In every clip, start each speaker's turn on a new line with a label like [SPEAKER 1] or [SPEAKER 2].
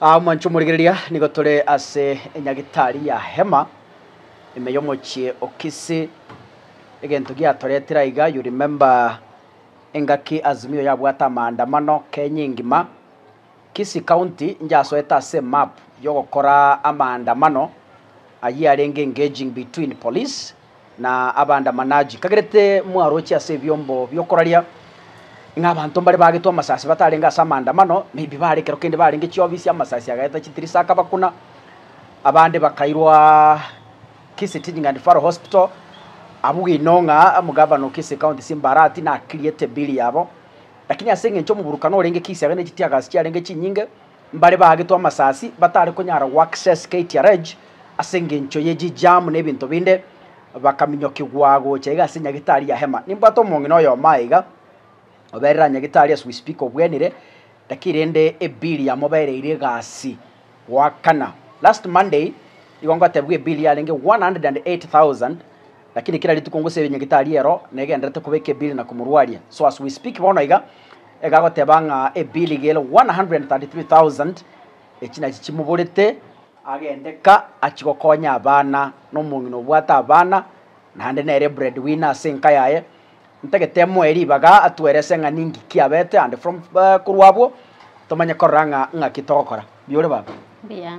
[SPEAKER 1] Aa mwanche omorigereria, nigo tore ase enyagitari ya hema ime y'omochie o Kisii. Egento giatoretire aiga, you remember engaki Azimio yabwate amaandamano Kenya engima, Kisii County njasoete ase emap yogokora amaandamano ayio arenge engaging between police na Abaandamanaji, kagerete mwaroche ase ebiombo bi'okoraria, ng'a abanto mbare baagetwe amasasi batarenge ase amaandamano, maybe bare ekero kende barenge chiobisi, amasasi agaeta chitirisa akabakuna, abande bakairwa Kisii Teaching and Referral Hospital, abwo bwino ng'a omogavana o Kisii County Simbarati nakiriete bill yabo, lakini ase eng'encho omoburukano orenge Kisii iga ne chitiagaasi chiarenge chinyinge. Mbare baagetwe amasasi batare konyara goaccess KTRH ase engencho ye chi jam na ebinto binde, bakaminyokigwa gocha iga ase Nyagetari ya Hema. Nimbwate omong'ina oyomo aye iga, oberera Nyagetari as we speak obwenire, lakini rende ebill yamobereire egasi goakana. Last Monday igo ngotebiwa ebill yarenge 108,000. Lakini kera rituko ngose ebinywa getarie ero negenderete koba ekebili na komorwaria. So as we speak bono iga, iga agoteba ng'a ebili gere 133,000 echi nachi chimoborete, agende ka achie gokonya abana, nomong'ina obwate abana, naende nere bread winner ase enka yaye, ntagete emoe ribaga atuerese ng'a ninki kiabete and from korwa abwo tomanye korora ng'a ng'aki togokora. Mbuya ore baba. Mbuya.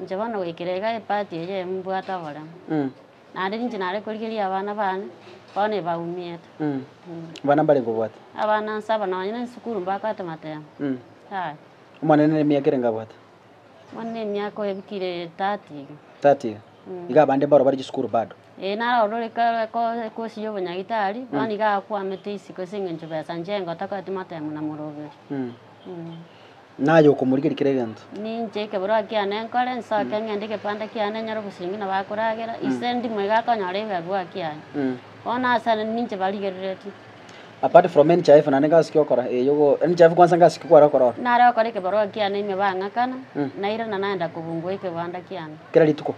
[SPEAKER 2] Inche bono goikera iga epati eye mbwate oboremo, naende ninche nare korigeria abana baane bono ebaumiete. Abana
[SPEAKER 1] mbare nkobwate? Abana nsaba nonya
[SPEAKER 2] na esukuru mbabwate matemba, yaya.
[SPEAKER 1] Omonene nere emiaka ere ngabwate? Omonene
[SPEAKER 2] emiaka oyebikire thirty iga. Thirty
[SPEAKER 1] iga? Iga abande mboro bare chisukuru bado? Ee, naro orore
[SPEAKER 2] kosia obonyagitari, bono iga akwamete isiko ase engencho besa inche engo takoeti motemo na moroberi.
[SPEAKER 1] Naye okomorigeria kera egento. Ninche ekeborwa
[SPEAKER 2] kiane nkore, nsoke ng'ende egepanda kiane nyore obosibingi nabo akoragera, ise ndimo iga akonyora ebibarua kiane. Bono ase aya ninche barigereretie. Apart from
[SPEAKER 1] NHIF naende gasi ki okora? Ee, yogo, NHIF kwansa gasi ki kware okora ororo? Nare okore ekebarua kiane
[SPEAKER 2] ime bang'akana, nairana naenda kobungwa ekebanda kiane. Kera rituko?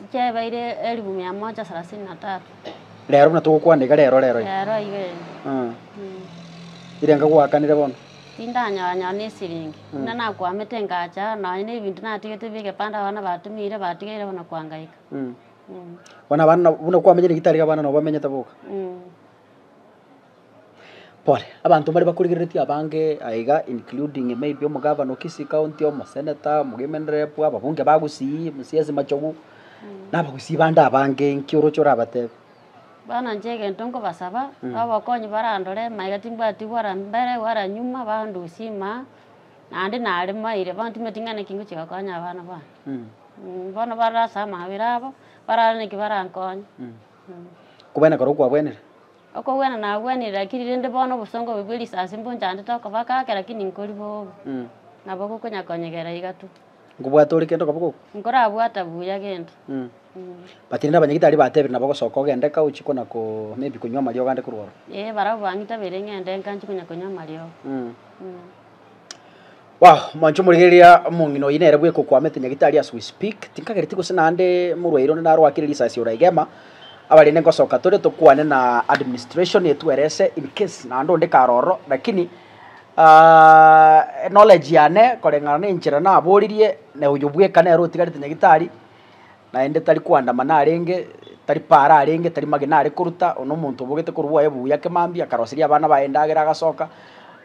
[SPEAKER 1] Inche ebeire
[SPEAKER 2] elifu mia moja sarasini na tatu. Rero
[SPEAKER 1] buna togokwana iga rero rero iga. Rero iga ere. Aa.
[SPEAKER 2] Mm.
[SPEAKER 1] Irenga gwakanire bono. Tindanyora nyora ne
[SPEAKER 2] siringi. Mm. Buna nakwamete ngacha nonya ne ebinto natigete bie gepande abana batumire batigeire bono kwangaika. Mm. Mm.
[SPEAKER 1] Bono abana buna kwamenyire gitari iga abana nobamenyete boka. Mm. Pole, abanto mbare bakorigereretie abange aiga including maybe omogavana o Kisii County, omosenator, omogimeni rep, ababunge ba Gusii, Mcs Machogu, na Abagusii bande abange, inki oroche orabatebe? Bono inche
[SPEAKER 2] egento nkobasaba, obokonyi barandore maiga timbwati gwara mbere gwara nyuma bandusie ime aa, naende nare maire bono timanyeti ng'a naki ngochia gokonya abana bane. Bono barase amabera abo, barare naki barankonye.
[SPEAKER 1] Okogwena kore okwagwenire? Okogwena
[SPEAKER 2] nagwenire lakini rende bono obosongo obo bwe risasi mbonchandete okoba gake lakini nkori bobe. Nabo gokonya konyegera iga tu. Nkobwate ore kende
[SPEAKER 1] okoba goku. Nkorabwata buya
[SPEAKER 2] gento. But
[SPEAKER 1] rende abanyagitari batebire nabo gosoka ogende ka ochie kona ko maybe konywa amariogo ande korwa oro. Ee barabwo bang'itabeire
[SPEAKER 2] ng'ende nka nchie konya konywa amariogo.
[SPEAKER 1] Wow, mancho morigereria omong'ina oyi nere bweka okwamete nyagitari as we speak, tinkagereti gose naende morwaire onde narwakire risasi ora igema, abarende ngosoka tore tokwane na administration etwerese in case naende onde kare ororo lakini knowledge yane koreng'ana na enchera naboririe na oyo bweka nere otigarete nyagitari. naende tari koandama narenge, tari paara arenge, tari magena are koruta, one omonto obogete korwa obwaye buya ake mambia, akaroseria abana baye endagera agasoka,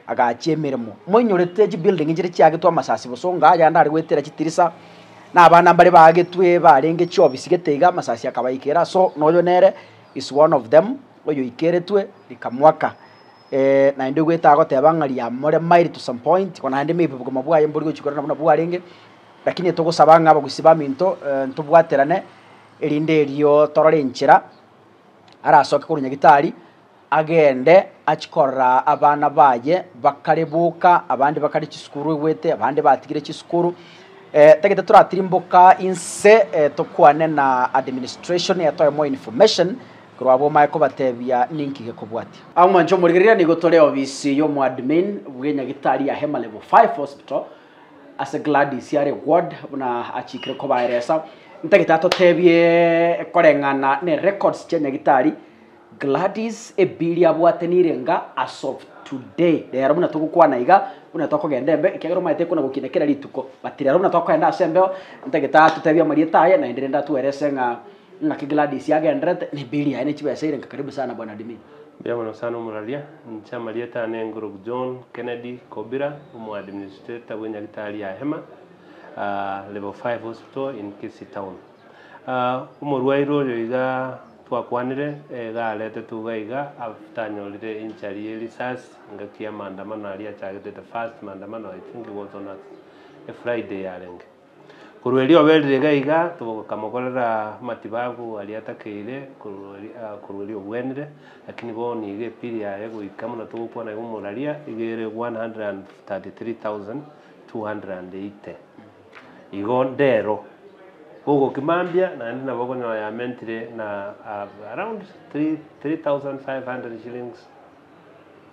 [SPEAKER 1] agachia emeremo. Moinyorete chibuilding chire chiagetwe amasasi bosa onga aya ande are goetera chitirisa, na abana mbare baagetwe barenge chiobisi gete iga, amasasi akabaikera so na oyo nere is one of them oyoikeretwe rikamoaka. naende goeta agoteba ng'a riamoremairi to some point, naende maybe obogima bwaye mbori gochia korora nabuna bwarenge. Lakini togosaba ng'a abagusi baminto ntobwaterane, erinde erio torore enchera arasoke korwa Nyagitari, agende achie korora abana baye bakare boka, abande bakare chisukuru egwete, abande batigire chisukuru. Tagete toratirimboka inse tokwane na administration etoe more information korwa abwo omanye kobatebia ninki gekobwatia. Amo manchwa omorigereria nigo tore obisi y'omoadmin bwe Nyagitari ya Hema Level Five Hospital Ase Gladys yare ward buna achikire kobaeresa, Ntagete atotebie koreng'ana ne records chia Nyagitari Gladys ebiri abwate nirenga as of today rero buna togokwana iga buna tokogenda embe ekiagera omanyete ekona gokina kera rituko but rero buna tokoenda ase embeo Ntagete atotebie amarieta aye naende rende atuerese ng'a Naki Gladys agenderete, neberi yaye ne chibesa erenka karibu sana bwana admin. Mbuya mono sana
[SPEAKER 3] omuraria, inche amarieta ane Nguruk John Kennedy Kobira, omo administrator bwe nyagitari ya Hema level five hospital in Kisii town. Omorwaire oyo iga twakwanire iga aretetwe iga iga after anyorire injury ye risasi engaki ya maandamano aria achagete the first maandamano I think it was on a Friday yarenge. Korwa erio obe rireega iga tokamogorera amatibabu aria atakeire korwa erio korwa erio obwenire, lakini bono nigo epiri yaye goika buna togokwana iga omoraria iga ere 133,280. Igo ndero ogokimambia naende nabo okonyora yamentire na around 3,500 shillings.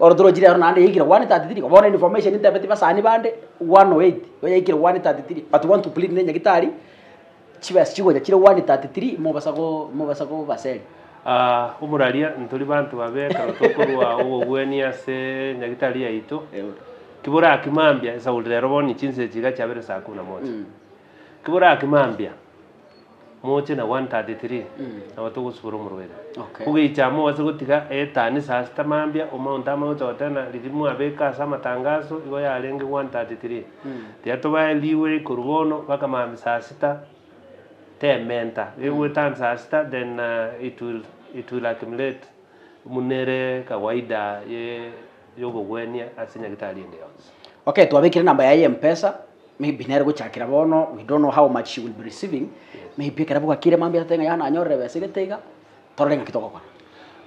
[SPEAKER 3] Oro torochire aro
[SPEAKER 1] naende yaikire 133, bono information ntebetie basani bande 108 nigo yaikire 133 but want to plead ne nyagitari chibesa chigocha chire 133 mobasa go mobasa gobaseri. Aah oboraria
[SPEAKER 3] ntori banto babe ekero tokorwa obobweni ase nyagitari yaito Eeh. Kiboraki mambia, esaulira ero boni chinse chiga chiabere saa kumi na moja. Kiboraki mambia. Moche na 1:33, Nabo togosibora omorweri. Ogeicha amo ase gotiga eetanisa ase tamambia, omaunto amagochote na riria mwabeka ase amatangaso, igo yarenge 1:33. Tiga tobae riweri korwa bono baka maambia saa sita, tementa iga goetanisa saa sita then it will it will accumulate buna ere kawaida ye. yogogwenia ase nyagetari ende yonsi. Okay twabekire
[SPEAKER 1] number yaye ya mpesa maybe nere gochakera bono we don't know how much she will be receiving maybe ekero bwakire mambia atete ng'a yao nanyorire ebesa egete iga torore ng'aki togokora.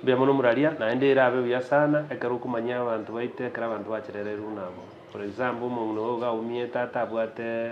[SPEAKER 1] Mbuya mono omuraria,
[SPEAKER 3] naende erabe buya sana ekero okomanyia abanto baito ekero abanto bacherereirwe buna abwo. For example, omong'ina oyo iga aumie tata abwate.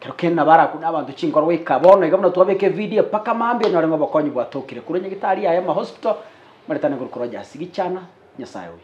[SPEAKER 1] Kero kende nabo arakwe nabanto chinkoro goika bono iga buna twabeka evideo mpaka mambia onyore ng'a obokonyi bwatokire korwa nyagetari yaye amahospital, Omoretani Ngoruko Rogers, Gichana, Nyasaye oyo.